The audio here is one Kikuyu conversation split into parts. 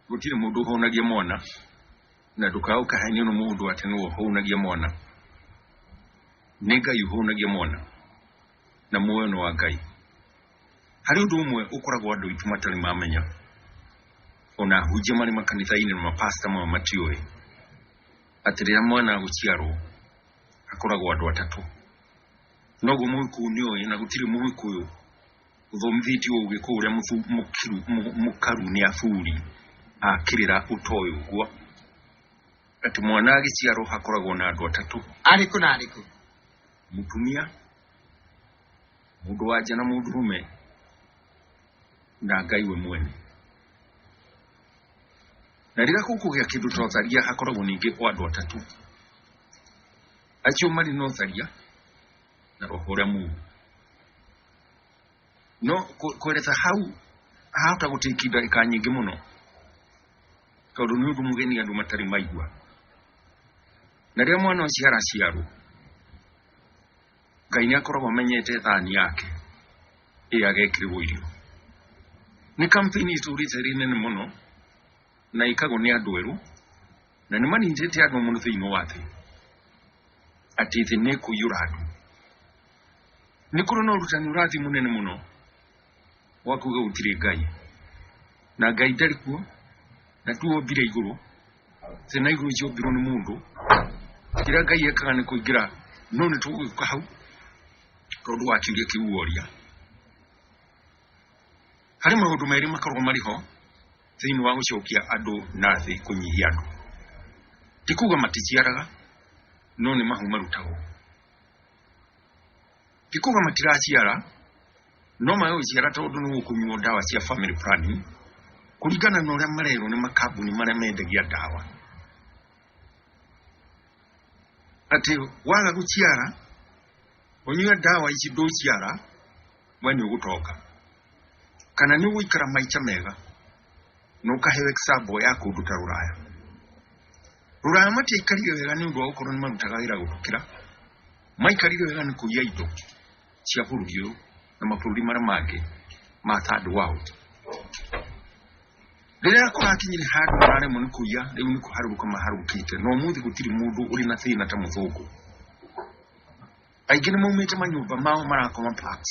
gũtirĩ mũndũ ũhũnagia mwana na ndũkaga ũkahenio nĩ mũndũ atĩ nĩwe ũhũnagia mwana nĩ ngai ũhũnagia mwana na muoyo nĩ wa ngai harĩ ũndũ ũmwe ũkoragwo andũ aitũ matarĩ mamenya ona ahunjia marĩ makanitha-inĩ na mapasta mao matiũĩ atĩ rĩrĩa mwana agũciarwo akoragwo andũ atatũ noguo mũgĩkũyũ nĩ ũĩ na gũtirĩ mũgĩkũyũ Thomithĩtie ũgĩ kũ ũrĩa mũthu- mũkiru- mũ- mũkaru nĩ athuri akĩrĩra ũtoĩ ũguo atĩ mwana agĩciarwo hakoragwo na andũ atatũ arĩkũ na arĩkũ mũtumia mũndũ wa nja na mũndũrũme na ngai we mwene na rĩrĩa gũkũgĩa kĩndũ ta ũtharia hakoragwo ningĩ o andũ atatũ acio marĩ na ũtharia na roho ũrĩa mũru no kũ- kwereta hau hahota gũtĩki ndagĩka nyingĩ mũno tondũ nĩ ũndũ mũgeni andũ matarĩ maigua na rĩrĩa mwana ũcio araciarwo ngai nĩ akoragwo amenyete thani yake ĩrĩa agekĩrĩrwo irio nĩ kampeni itũrĩte rĩ nene mũno Na ikagwo nĩ andũ erũ, na nĩ manyitĩte andũ mũno thĩinĩ wa thĩ, atĩ thĩ nĩ kũiyũra andũ. Nĩ kũrĩ na ũrutani ũrathiĩ mũnene mũno wa kuga gũtirĩ Ngai, na Ngai ndarĩ kuo, na tu ombire igũrũ, thĩ na igũrũ ciombirwo nĩ mũndũ. Kĩrĩa Ngai ekaga nĩ kũingĩra, no nĩ tũgũgĩũka hau tondũ wa kĩũria kĩu woria. Harĩ maũndũ merĩ makoragwo marĩ ho. thĩinĩ wa gũcokia andũ na thĩ kũnyihia andũ ti kuga maticiaraga no nĩ mahu marutagwo ti kuga matiraciara no magagĩciara tondũ nĩ gũkũnyuo ndawa cia family planning kũringana na ũrĩa marerwo nĩ makambuni marĩa mendagia ndawa atĩ waga gũciara ũnyue ndawa ici ndũciara we nĩ ũgũtonga kana nĩ ũgũikara maica mega na ũkaheyo example ya kũndũ ta rũraya rũraya matiaikarire wega nĩ ũndũ wa gũkorwo nĩ marutaga wĩra gũkĩra maikarire wega nĩ kũiya indo cia bũrũri ũyũ na mabũrũri marĩa mangĩ ma third world rĩrĩa kũrakinyire handũ mararemwo nĩ kũiya rĩu nĩ kũharũrũka maharũrũkĩte na ũmũthĩ gũtirĩ mũndũ ũrĩ na thĩna ta mũthũngũ aingĩ nĩ maumĩte manyũmba mao marakoma parks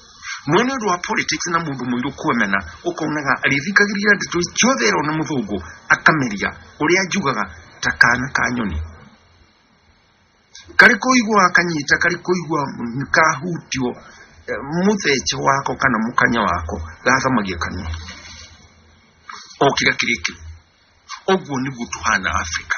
no nĩ ũndũ wa politics na mũndũ mũirũ kuemena ũkonaga arĩthikagĩrĩria ndeto ciothe ero na mũthũngũ akameria ũrĩa njugaga ta kana ka nyoni karĩ kũigua kanyita karĩ kũigua kahutio eh, mũthece wako kana mũkanya wako gathamagia kanua o kĩrĩa kĩrĩkĩu ũguo nĩguo tũhana afrika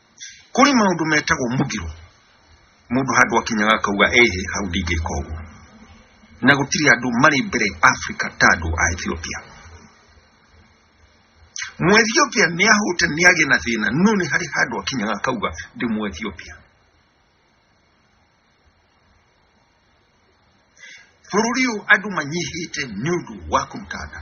kũrĩ maũndũ metagwo mũgiro mũndũ handũ akinyaga akauga ehe hau ndingĩka ũguo na gũtirĩ andũ marĩ mbere africa ta andũ a ethiopia mũethiopia nĩ ahũte nĩ agĩ na thĩna no nĩ harĩ handũ akinyaga akauga ndĩ mũethiopia bũrũri ũyũ andũ manyihĩte nĩ ũndũ wa kũruta nda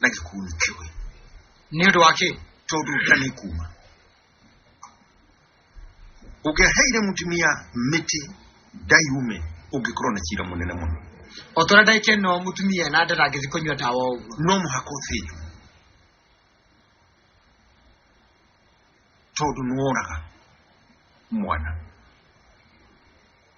na gĩkuũ kĩũĩ nĩ ũndũ wa kĩ tondũ nda nĩ kuma ũngĩaheire mũtumia mĩtĩ ndaiume ũngĩkorwo na cira mũnene mũno o tũrĩa ndaike no mũtumia na nda ndangĩthi kũnyua ndawa ũguo no mũhaka ũthĩnjwo tondũ nĩworaga mwana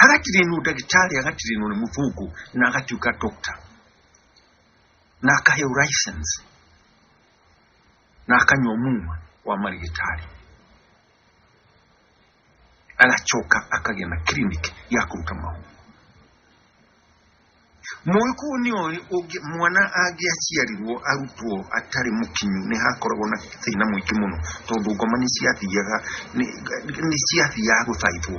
hagatirĩ nũ ndagĩtarĩ agatirĩ nũ nĩ mũthũngũ na agatuĩka doctor na akaheo license na akanyua muma wa marigĩtarĩ agacoka akagĩa na clinic ya kũruta mahu Mũĩ kũu nĩ ũĩ ũngĩ- mwana angĩaciarirwo arutwo atarĩ mũkinyu nĩ hakoragwo na thĩna mũingĩ mũno tondũ ngoma nĩ ciathiaga nĩ- nĩ ciathiaga gũthaithwo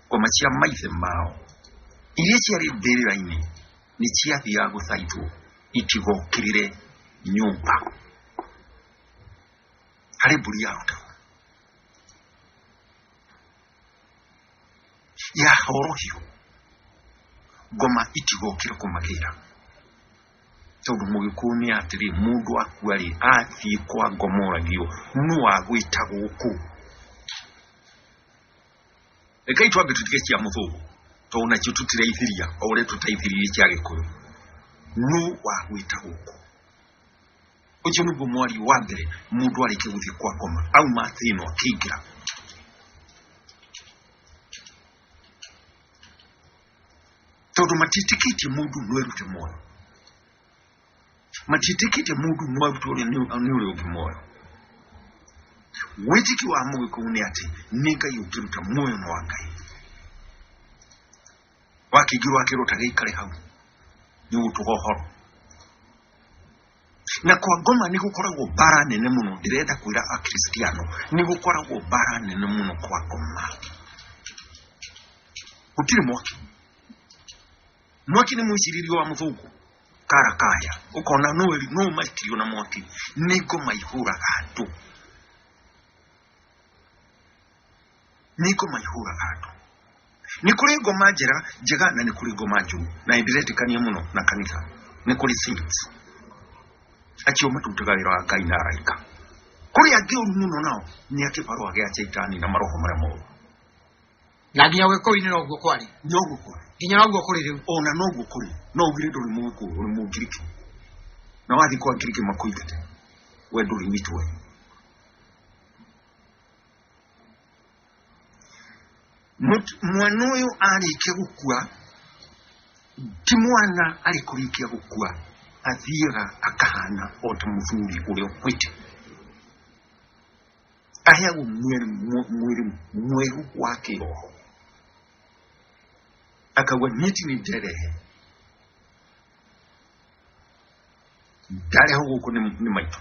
ngoma cia maithe mao iria ciarĩ mbĩrĩra-inĩ nĩ ciathiaga gũthaithwo itigokĩrĩre nyũmba harĩ mbũri ya ũta ya horohio ngoma itigokire kumagira tondu mugikuyu ni atiri mundu akua ri athii kwa ngomoragio nu agwita guku rekai twambe tutige cia muthungu tondu nacio tutiraithiria o uria tutaithiririe cia gikuyu nu wagwita guku ũcio nĩguo mwario wa mbere mũndũ arĩkia gũthiĩ kwa koma auma atĩ ĩno akĩingĩra tondũ matiĩtĩkĩtie mũndũ no erute muoyo matiĩtĩkĩtie mũndũ no arute ũrĩa nĩ nĩ ũrĩa ũngĩ muoyo wĩtĩki wa mũgĩkũyũ nĩ atĩ nĩ ngai ũngĩruta muoyo na wa ngai wakĩingĩrwo akĩrwo ta gĩikare hau nĩ gũtũga ũhoro na kwa ngoma nĩ gũkoragwo mbara nene mũno ndĩrenda kwĩra akristiano nĩ gũkoragwo mbara nene mũno kwa ngoma gũtirĩ mwaki mwaki nĩ mwĩciririo wa mũthũngũ karakaya ũkona no eri- no maitirio na mwaki nĩ ngoma ihũraga andũ nĩ ngoma ihũraga andũ nĩ kũrĩ ngoma njega njega na nĩ kũrĩ ngoma njũru na nĩndĩretĩkania mũno na kanitha nĩ kũrĩ saints acio matutaga wĩra wa ngai na araika kũrĩ angĩ ũru mũno nao nĩ akĩbarũa gĩa shaitani na maroho marĩa moru na nginya ũgĩkũyũ-inĩ noguo kwarĩ noguo kũrĩ nginya noguo kũrĩ rĩu ona noguo kũrĩ no ugire ndũrĩ mũgũkũ ũrĩ mũngiriki na wathiĩ kwa ngiriki makũingate we ndũrĩ witũ we Mũt- mwana ũyũ arĩkia gũkua ti mwana arĩ kũrĩkia gũkua athiaga akahana o ta mũthuri ũrĩa ũkwĩte aheagwo mwĩrĩ mwe- mwĩrĩ mwerũ wa kĩroho akauga niĩ ti nĩ nderehe ndarehwo gũkũ nĩ nĩ maitũ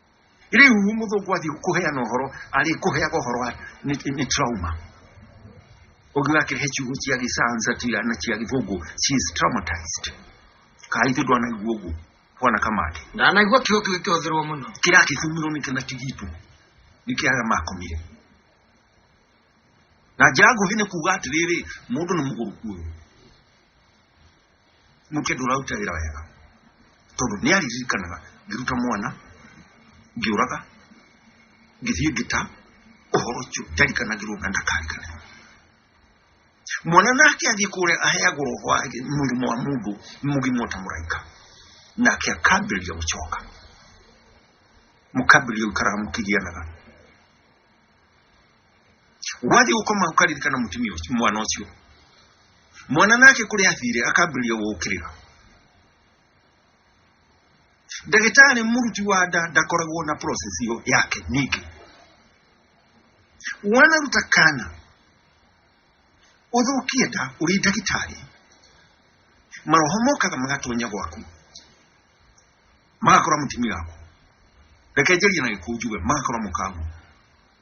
riu muthungu athiĩ kũheana ũhoro arĩ kũheaga ũhoro wa- nĩ nĩ trauma ũngĩgakĩrehe ciugo cia gĩcansa cia na cia gĩthũngũ she is traumatized kaa ithuĩ ndwanaigua ũguo bwana kamande ndanaigua kiugo kĩu gĩkĩhũthĩrwo mũno kĩragĩthumirwo nĩ kĩna kĩgitũ nĩ kĩaga makomire na njĩra nguhĩ nĩ kuga atĩrĩrĩ mũndũ nĩ mũgũrũku ũyũ muke nduraruta wira wega tondu ni ariririkanaga ngiruta mwana ngiuraga ngithie ngita uhoro ucio ndarikanagirwo na ndakarikanirwo mwana nake athiĩ kũrĩa aheagwo roho wa mũrimũ wa mũndũ mũgima ta mũraika nake akambĩrĩria gũcoka mũkambĩrĩria gũikaraga mũkĩgianaga wathi ukoma ukaririkana mutumia ũcio- mwana ũcio mwana nake kũrĩa athire akambĩrĩria gũkĩrĩra ndagĩtarĩ mũruti wa nda ndakoragwo na process ĩyo yake ningĩ wanaruta kana ũthũkie nda ũrĩ ndagĩtarĩ maroho mokaga magatonya gwaku magakora mũtumia waku reke njarie na gĩkũnjuge magakora mũkaguo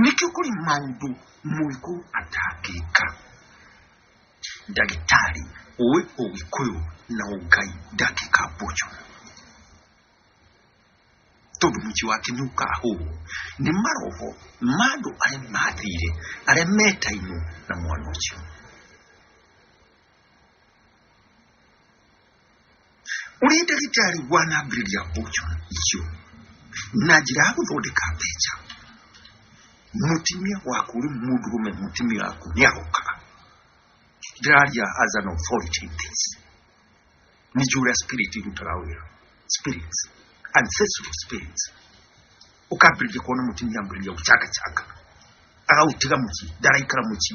Nĩ kĩo kũrĩ maũndũ mũgĩkũ atangĩka. Ndagĩtarĩ ũĩ ũgĩkũyũ na ũngai ndangĩka mboco. Tondũ mũciĩ wake nĩ ũkahũrwo nĩ maroho ma andũ arĩa mathire arĩa metainwo na mwana ũcio. ũrĩ ndagĩtarĩ wanambĩrĩria mboco icio na njĩra ya gũthondeka mbeca mũtumia waku rĩ mũndũrũme mũtumia waku nĩ arokaga ndĩraria as an authority in this nĩ njũĩ ũrĩa spirit irutaga wĩra spirits ancestral spirits ũkambĩrĩria kuona mũtumia ambĩrĩria gũchangachanga agaũtiga mũciĩ ndaraikara mũciĩ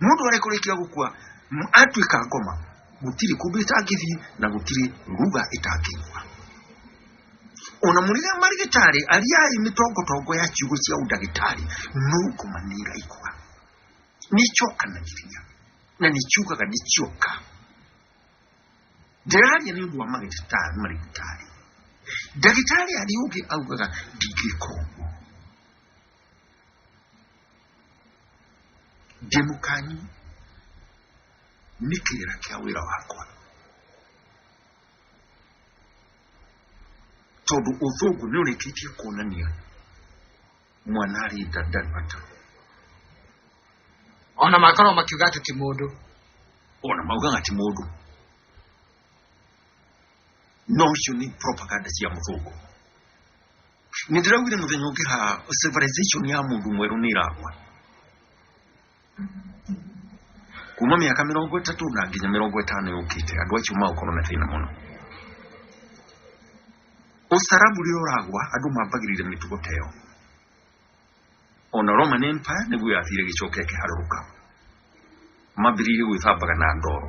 mundu arekurikia gukua m- atuika ngoma gutiri kundu itangithii na gutiri nguga itangigua ona murire marigitari ariai mitongotongo ya ciugo cia udagitari no ngoma nĩ iraigua nĩicokanagĩria na nĩciugaga nĩcioka ndĩraria nĩ ũndũ wa magĩtari marigitari ndagĩtarĩ arĩa ũngĩ augaga ndingĩka ũguo ndĩ mũkanyu nĩ kĩrĩra kĩa wĩra wakwa tondũ ũthũngũ nĩ ũrĩkĩtie kuonania mwana arĩ nda ndarĩ mata ona makorwo makiuga atĩ ti mũndũ ona maugaga ti mũndũ no icio nĩ propaganda cia mũthũngũ Nĩ ndĩraugire mũthenya ũngĩ ha civilization ya mũndũ mwerũ nĩ ĩragwa kuma mĩaka mĩrongo ĩtatũ na nginya mĩrongo ĩtano yũkĩte andũ acio magũkorwo na thĩna mũno ũcarabu rĩrĩa ũragwa andũ mambagĩrĩire mĩtugo ta ĩyo ona roman empire nĩguo yathire gĩcoka ĩkĩharũrũka mambĩrĩirie gwĩthambaga na ndoro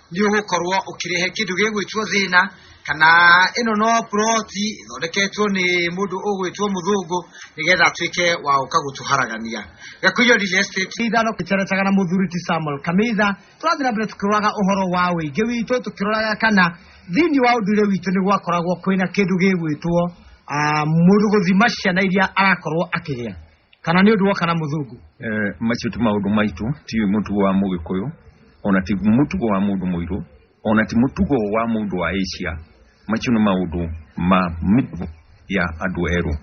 nĩ ũgũkorwo ũkĩrehe kĩndũ gĩgwĩtwo thĩna kana ĩno no puroti ĩthondeketwo nĩ mũndũ ũgwĩtwo mũthũngũ nĩgetha atuĩke wa ũka gũtũharagania gakuyo real estate ithano gĩceretaga na mũthuri ti samuel kamitha tũrathiĩ na mbere tũkĩroraga ũhoro wa ũingĩ witũ tũkĩroraga kana thĩinĩ wa ũndũire witũ nĩ gwakoragwo kwĩna kĩndũ gĩgwĩtwo ah, mũndũ gũthima ciana iria arakorwo akĩgĩa kana nĩ ũndũ woka na mũthũngũ eh, macio ti maũndũ maitũ ti mũtugo wa mũgĩkũyũ ona ti mũtugo wa mũndũ mũirũ ona ti mũtugo wa mũndũ wa Asia macio nĩ maũndũ ma mĩtugo ya andũ erũ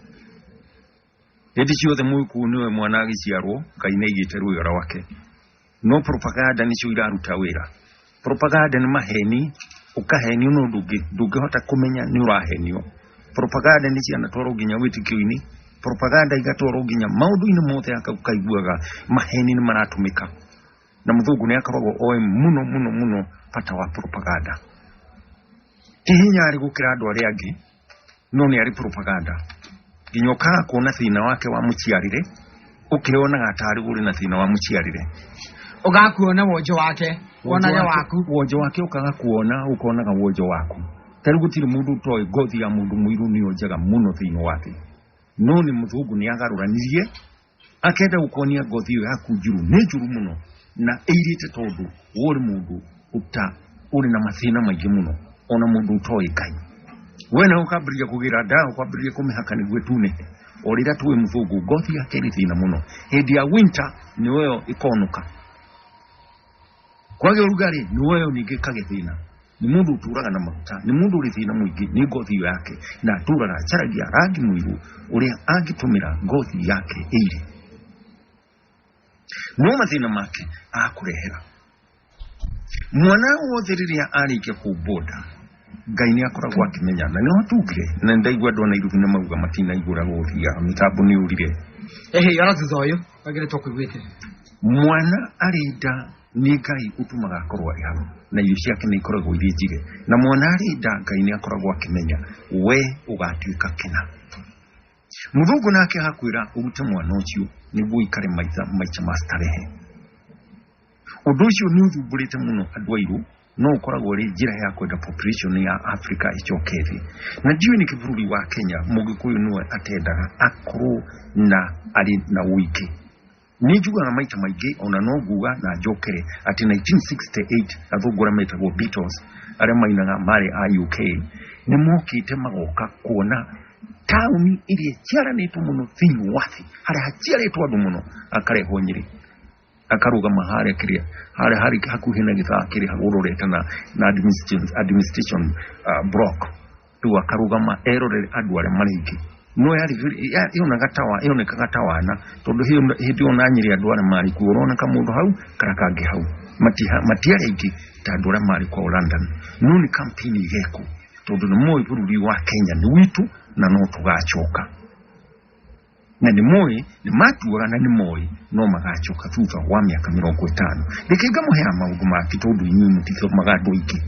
hĩndĩ ciothe mũgĩkũyũ nĩwe mwana agĩciarwo ngai nĩ aigĩte rwĩga rwake No propaganda nĩcio iraruta wĩra. Propaganda nĩ maheni, ũkahenio na ũndũ ũngĩ ndũngĩhota kũmenya nĩ ũrahenio. Propaganda nĩ cianatwarwo nginya wĩtĩkio-inĩ, propaganda igatwarwo nginya maũndũ-inĩ mothe aka- ũkaiguaga maheni nĩ maratũmĩka. Na mũthũngũ nĩ akoragwo oĩ mũno mũno mũno bata wa propaganda. Ti hinya arĩ gũkĩra andũ arĩa angĩ, no nä arä propaganda nginya ũkaga kuona thĩna wake wa mũciarĩre ũkĩonaga atarĩ ũrĩ na thĩna wa mũciarĩre ũgakuona wonjo wake wonage waku wonjo wake ũkaga kuona ũkonaga wonjo waku tarĩ gũtirĩ mũndũ ũtoĩ ngothi ya mũndũ mũirũ nĩyo njega mũno thĩinĩ wake no nĩ mũthũngũ nĩ agarũranirie akenda gukonia ngothi iyo yaku njuru ni njuru muno na ĩirĩte tondũ we ũrĩ mũndũ ũta ũrĩ na mathĩna maingĩ mũno ona mũndũ ũtoĩ ngai we na ũkambĩrĩria kũgĩra ndawa ũkambĩrĩria kũmĩhaka nĩguo ĩtunĩhe o rĩrĩa tũĩ mũthũngũ ngothi yake ĩrĩ thĩna mũno hĩndĩ ya winter nĩyo ĩkonũka Kwagĩa ũrugarĩ nĩ woyo ningĩ kagĩthĩna nĩ mũndũ ũtũraga na maguta nĩ mũndũ ũrĩ thĩna mũingĩ nĩ ngothi iyo yake na atũraga acaragia rangi mũirũ ũrĩa angĩtũmĩra ngothi yake ĩire no mathĩna make akũrehera mwana wothe rĩrĩa arĩkia kũmbonda Ngai nä akoragwo akĩmenya na nä watugire na nä ndaigua andå ana irugu nä mauga matinaigåra gå thiga mä tambo nä å rire Ehe, ara thutha ũyũ wagĩrĩtwo kũiguĩte. mwana arĩ nda nĩ ngai ũtumaga akorwo arĩ haro na irio ciake nĩ ikoragwo irĩ njige na mwana arĩ nda ngai nĩ akoragwo akĩmenya we ũgatuĩka kĩna mũthũngũ nake agakwĩra ũrute mwana ũcio nĩguo ikare maita maica ma starehe Ũndũ ũcio nĩ ũthumbũrĩte mũno andũ airũ no ũkoragwo rĩ njĩra ya kwenda population ya Africa ĩcoke thĩ na ndiũĩ nĩkĩ bũrũri wa Kenya mũgĩkũyũ nĩwe atendaga akorwo na arĩ na ũingĩ nĩ njugaga maita maingĩ ona no nguga na njokere atĩ 1968 athũngũ arĩa metagwo Beatles arĩa mainaga marĩ a UK nĩ mokĩte magoka kuona taũni ĩrĩa ĩciaranĩtwo mũno thĩinĩ wa thĩ harĩa haciarĩtwo andũ mũno akarehwo Nyĩrĩ akarũgama harĩa kĩrĩa harĩa harĩ hakuhĩ na gĩthaa kĩrĩa ũrorete na na administration, administration uh, block rĩu akarũgama erorere andũ arĩa marĩ aingĩ no yarĩ vile- ya- yonaga tawa yonekaga tawana tondũ hĩyo- hĩndĩ ĩyo na nyĩrĩ andũ arĩa marĩ kuo ũrona kamũndũ hau kana kangĩ hau Matiha- matiarĩ aingĩ ta andũ arĩa marĩ kwao London no nĩ kampeni igekwo tondũ nĩ moĩ bũrũri wa Kenya nĩ witũ na no tũgacoka na nĩ moĩ nĩ matuaga na nĩ moĩ no magacoka thutha wa mĩaka mĩrongo ĩtano reke ngamũhera maũndũ make tondũ inyuĩ mũtithomaga andũ aingĩ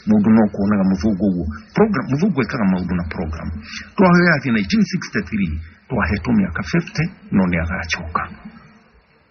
mũndũ no kuonaga mũthũngũ ũguo program mũthũngũ ekaga maũndũ na program twahoya atĩ 1963 twahetwo mĩaka 50 no nĩ agacoka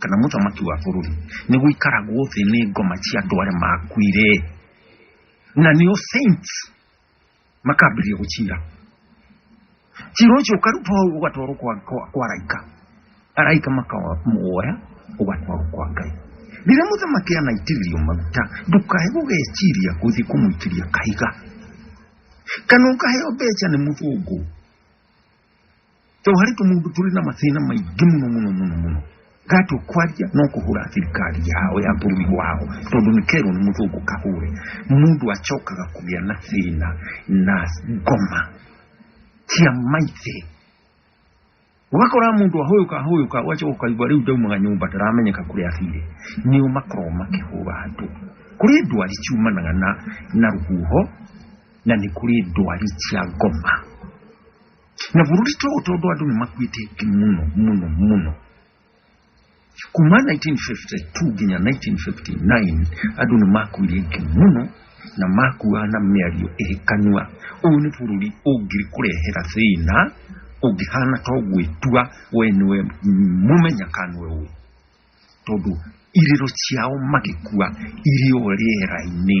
kana mũthamaki wa bũrũri nĩ gũikaragwo thĩ nĩ ngoma cia andũ arĩa makuire na nĩo saints makambĩrĩria gũcira cira ũcio ũkarutwo hau ũgatwarwo kwa, kwa, kwa raika araika makamuoya ũgatwarwo kwa ngai rĩrĩa mũthamaki anaitĩrĩrio maguta ndũkae gũgeciria gũthiĩ kũmũitĩria kahiga kana ũkaheo mbeca nĩ mũthũngũ to hari tumuntu turi n'amatsina maigi muno muno muno muno gatokwarya nokuhura thirikari yao ya bũrũri wao tondũ nĩ kerwo nĩ mũthũngũ kahũre mũndũ acokaga kũgĩa na thĩna na ngoma cia maithe ũgakora mũndũ ahũyũka ahũyũka ũgacoka ũkaigua rĩu ndaumaga nyũmba ndaramenyeka kũrĩa athire nĩo makoragwo makĩhũra andũ kũrĩ ndwari ciumanaga na na rũhuho na nĩ kũrĩ ndwari cia ngoma na vurulito utodo adu ni makwite ki muno muno muno kuma 1952 ginya 1959 adu ni makwire ki muno na makuwa na mĩario ĩhĩkanua ũũ nĩ bũrũri ũngĩkũrehera thĩna ũngĩhana to gwĩtua we nĩwe mũmenya kanwe ũũ tondũ irĩro ciao magĩkua irĩ o rĩera-inĩ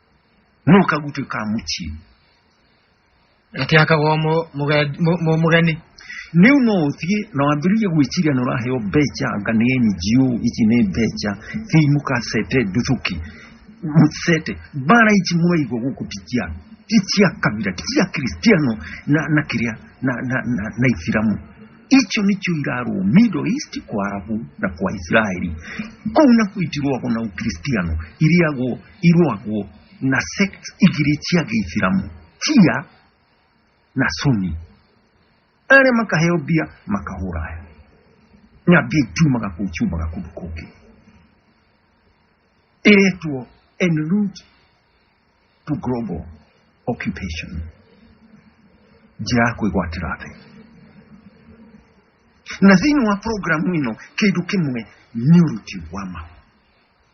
nuka gutuka muki ati akagwa mu- muga- mu- mu- mugeni niu no uthie na wambiririe gwiciria na uraheo mbeca anga ni NGO ici ni mbeca thii mukasete nduthuki musete bara ici mwaigua guku ticia ticia kabira ticia kristiano na na kiria na na na, na ithiramu icio nicio irarwo middle east kwa arabu na kwa israeli kuu na kuitirwagwo na ukristiano iriagwo irwagwo na sect igiri cia gĩithiramu cia na suni arĩa makaheo mbia makahũra aya na mbia itumaga kũu ciumaga kũndũ kũngĩ ĩretwo en route to global occupation njĩra ya kwĩgwatĩra thĩ na thĩinĩ wa programu ĩno kĩndũ kĩmwe nĩ ũruti wa mahu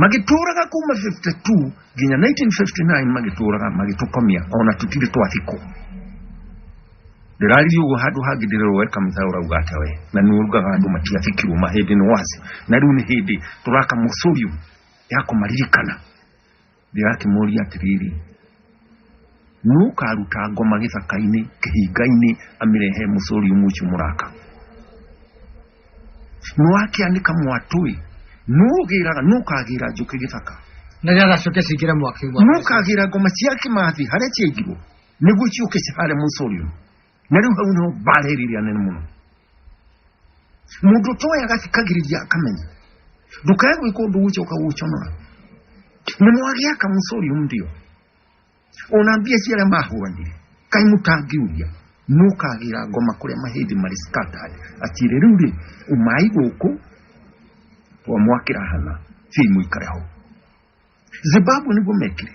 magĩtũũraga kuma 52 nginya 1959 magĩtũũraga magĩtũkomia ona tũtirĩ twathikwo ndĩrariri ũguo handũ hangĩ ndĩrerwo we kamitha ũrauga atĩa we na nĩ ũrugaga andũ matiathikirwo mahĩndĩ nĩ wacio na rĩu nĩ hĩndĩ tũraka mũcũrium ya kũmaririkana Ndĩrakĩmũũria atĩrĩrĩ, Nũũ ũkaaruta ngoma gĩthaka-inĩ kĩhinga-inĩ amĩrehe mũcori ũmwe ũcio mũraka? Nũũ akĩanĩka mwatũĩ? Nũũ ũgĩraga? Nũũ ũkaagĩra njũkĩ gĩthaka? Na nĩgetha ciũke cingĩre mwaki-inĩ wa Nũũ Ngai. ũkaagĩra ngoma cia kĩmathi harĩa ciaigirwo nĩguo ciũke cihare mũcori ũyũ? na rä u hau niho mbarĩrĩria nene mũno mũndũ toya agathikagĩrĩria akamenya ndũkae gwĩka ũndũ ũcio ũkagũconora nĩ mwagĩa kamũcori ndio ona mbia cia arĩa mahũranire kaĩ mũtangiuria nũkagĩra ngoma kũrĩa mahĩndĩ marĩ scattered atire rĩu rĩ umai gũkũ wa mwakĩra hana thiĩ mũikare hau zimbabwe nĩguo mekire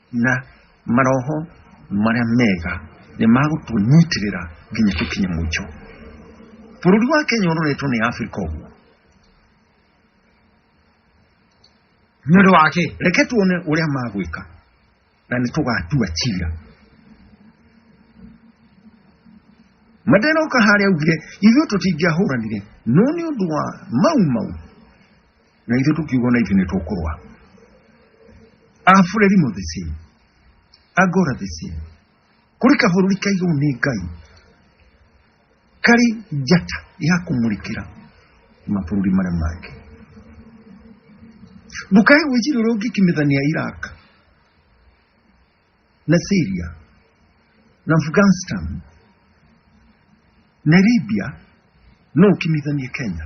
na maroho marĩa mega nĩ magũtũnyitĩrĩra nginya tũkinye mũico bũrũri wa kenya ũroretwo nĩ afrika ũguo nĩ ũndũ wake reke tuone ũrĩa magwĩka na nĩ tũgatua cira mandela ũkaharĩa augire ithuĩ tũtingĩahũranire no nĩ ũndũ wa mau mau na ithuĩ tukiuga na ithuĩ nĩ tũkũrũa abũreri mo the same angora the same kũrĩ kabũrũri kaigũ nĩ ngai karĩ njata ya kũmũrĩkĩra mabũrũri marĩa mangĩ ndũkae gwĩciria ũrĩa ũngĩkimithania iraq na syria na afghanistan na libya no ũkimithanie kenya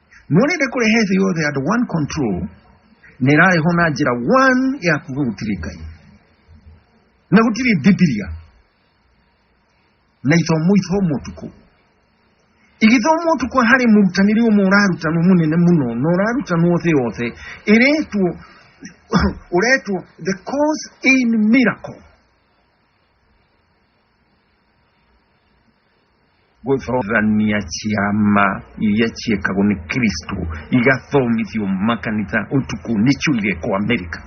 Nonende kurehe thĩ yothe under one control na ĩrarehwo na njĩra one ya kuga gũtirĩ Ngai na gũtirĩ Bibilia na ithomo ithomwo ũtukũ igĩthomwo ũtukũ harĩ mũrutanĩri ũmwe ũrarutanwo mũnene mũno na ũrarutanwo thĩ yothe ĩretwo ũretwo the cause in miracle gũthomithania ciama iria ciĩkagwo nĩ kristo igathomithio makanitha ũtukũ nĩcio igekwo amerika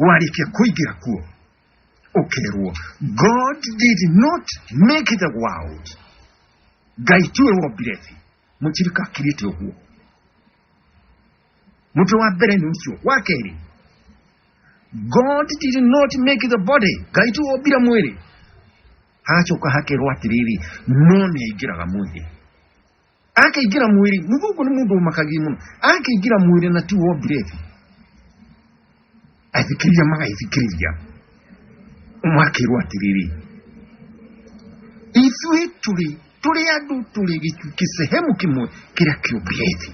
warĩkia kũingĩra kuo ũkerwo god did not make the world ngai tiwe wombire thĩ mũtirika akirĩte ũguo mũtwe wa mbere nĩ ũcio wa kerĩ god did not make the body ngai tu ombire mwĩrĩ hacoka hakerwo atĩrĩrĩ no nĩ aingĩraga mwĩrĩ akĩingĩra mwĩrĩ mũthũngũ nĩ mũndũ ũmakagia mũno akĩingĩra mwĩrĩ na ti wombire thĩ athikĩrĩria magaithikĩrĩria makĩrwo atĩrĩrĩ ithuĩ tũrĩ tũrĩ andũ tũrĩ gĩcunjĩ sehemu kĩmwe kĩrĩa kĩũmbire thĩ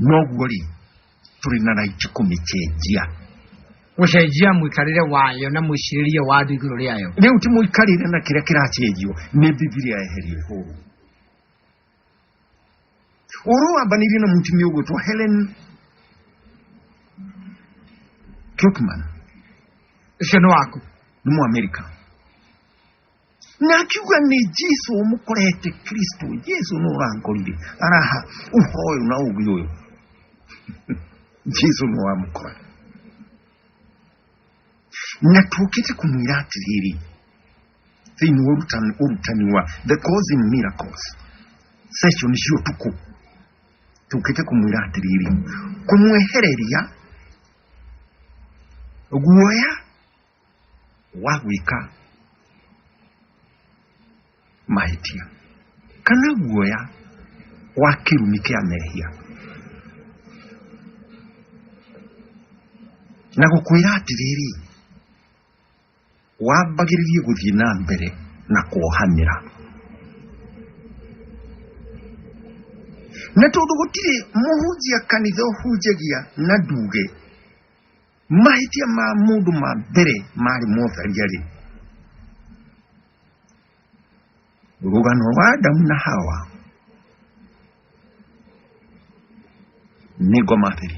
noguo rĩ tũrĩ na raiti kũmĩcenjia gũcenjia mũikarĩre wayo na mwĩcirĩrie wa andũ igũrũ rĩayo rĩu ti mũikarĩre na kĩrĩa kĩracenjio nĩ bibilia eherie hũru oro abaniri na mutumi ogwetwa helen kirkman ucio nĩ waku nĩ mu america na akiuga nĩ jesu ũmũkorete kristo jesu nĩ ũrankorire araha ũhoro ũyũ na ũgĩ ũyũ jesu nĩ wamũkora na tũkĩte kũmwĩra atĩrĩrĩ thĩinĩ wa ũrutani, ũrutani wa the cause in miracles session cia ũtukũ tũkĩte kũmwĩra atĩrĩrĩ kũmwehereria guoya wa gwĩka mahĩtia kana guoya wa kĩrumi kĩa mehia na gũkwĩra atĩrĩrĩ wambagĩrĩrie gũthiĩ na mbere na kuohanĩra na tondũ gũtirĩ mũhunjia kanitha ũhunjagia na nduge mahĩtia ma mũndũ ma mbere marĩ motharia rĩ rũgano rwa adamu na hawa nĩ ngoma atĩrĩ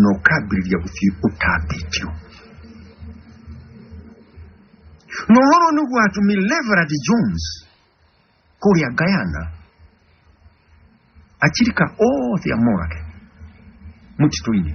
na ũkambĩrĩria gũthiĩ ũtambĩtio na ũhoro nĩ gwatu Mileverad Jones kũrĩa Guyana achirika othe amorage mũtitũ-inĩ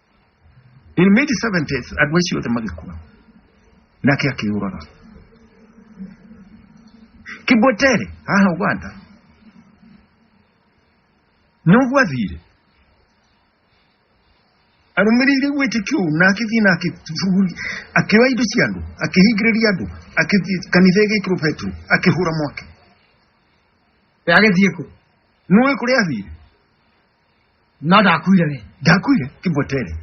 in mid 70s andå acio othe magäkua nake akä å raga kibwetere haha uganda noguo athire arũmĩrĩire gwĩtĩkio ũũ na agĩthiĩ na akĩbuguri akĩoya indo cia andũ akĩhingĩrĩria andũ akĩthiĩ kanitha ĩgĩkĩrwo petro akĩhũra mwaki agĩthiĩ kũ nũĩ kũrĩa athire no ndakuire rĩ ndakuire kĩmbotere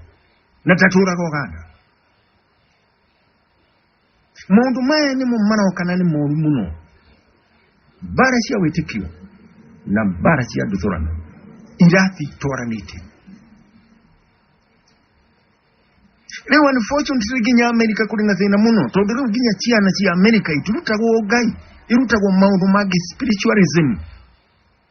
na ndatũraga ũganda maũndũ maya nĩmo marokana nĩ moru mũno mbara cia wĩtĩkio na mbara cia nduthũrano irathi twaranĩte rĩu unfortunately nginya amerika kũrĩ na thĩna mũno tondũ rĩu nginya ciana cia amerika itirutagwo ngai irutagwo maũndũ mangĩ spiritualism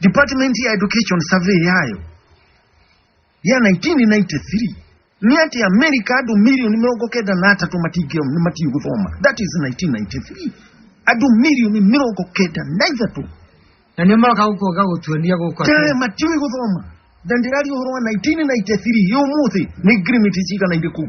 department ya education survey yayo ya 1993 ni ati america andu milioni mirongo kenda na atatu matingio matiu guthoma that is 1993 andu milioni mirongo kenda na ithatu na nä maroka gå kuoga gå tuonia gå kwa tee matiwi guthoma na ndirari uhoro wa 1993 yo muthi ni ngrimiti cigana irä kuu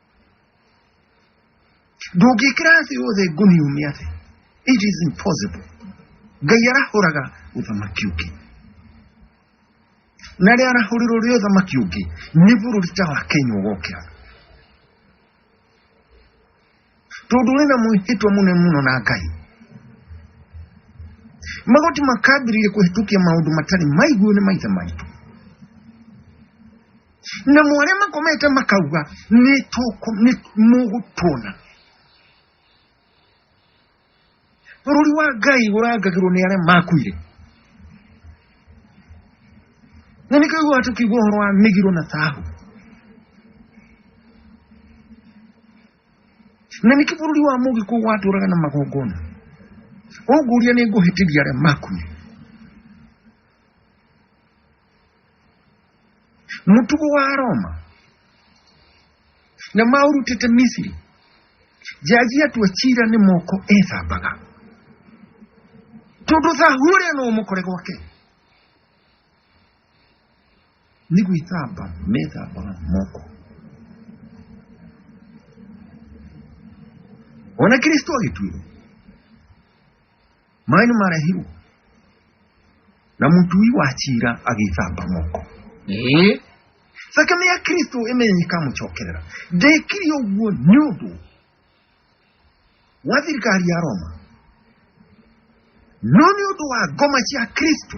ndũngĩkĩrathiĩ wothe ngũniumia thĩ it is impossible ngai arahũraga ũthamaki ũngĩ na rĩa arahũrĩrwo rĩ ũthamaki ũngĩ nĩ bũrũri ta wa kenya ũgokĩra tondũ ũrĩ na mwĩhĩtwa mũnene mũno na ngai magoti makambĩrĩria kũhĩtũkia maũndũ matarĩ maiguo nĩ maithe maitũ na må arĩa makomete makauga nĩ tũkũ- nĩ mũgũtuona bũrũri wa ngai ũrangagĩrwo nĩ arĩa makuire na nĩ kaiguaga tũkĩigua ũhoro wa mĩgiro na thahu na nĩkĩ bũrũri wa mũgĩkũ watũraga na magongona ũngũria nĩ ngũhĩtĩria arĩa makuire mutuku wa aroma na maurutite misiri jajia twachira ni moko ethambaga tondu thahure no mukore gwake ni gwithamba methambaga moko ona kristo agituirwo maĩ nĩ marehirwo na mũtui wa cira agĩĩthamba moko Ĩĩ. thakame ya kristo ĩmenye ĩkamũcokerera ndekire ũguo nĩ ũndũ wa thirikari ya roma no nĩ ũndũ wa ngoma cia kristo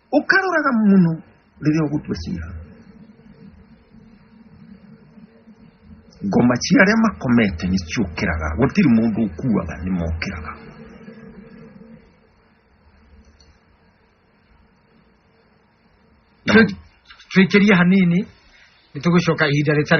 ukhalora ka muno lili okutwesira ngoma cia arĩa makomete nĩ ciũkĩraga gũtirĩ mũndũ ũkuaga nĩ mokĩraga Tũikĩrie hanini nĩ tũgũcoka ihinda rĩtarĩ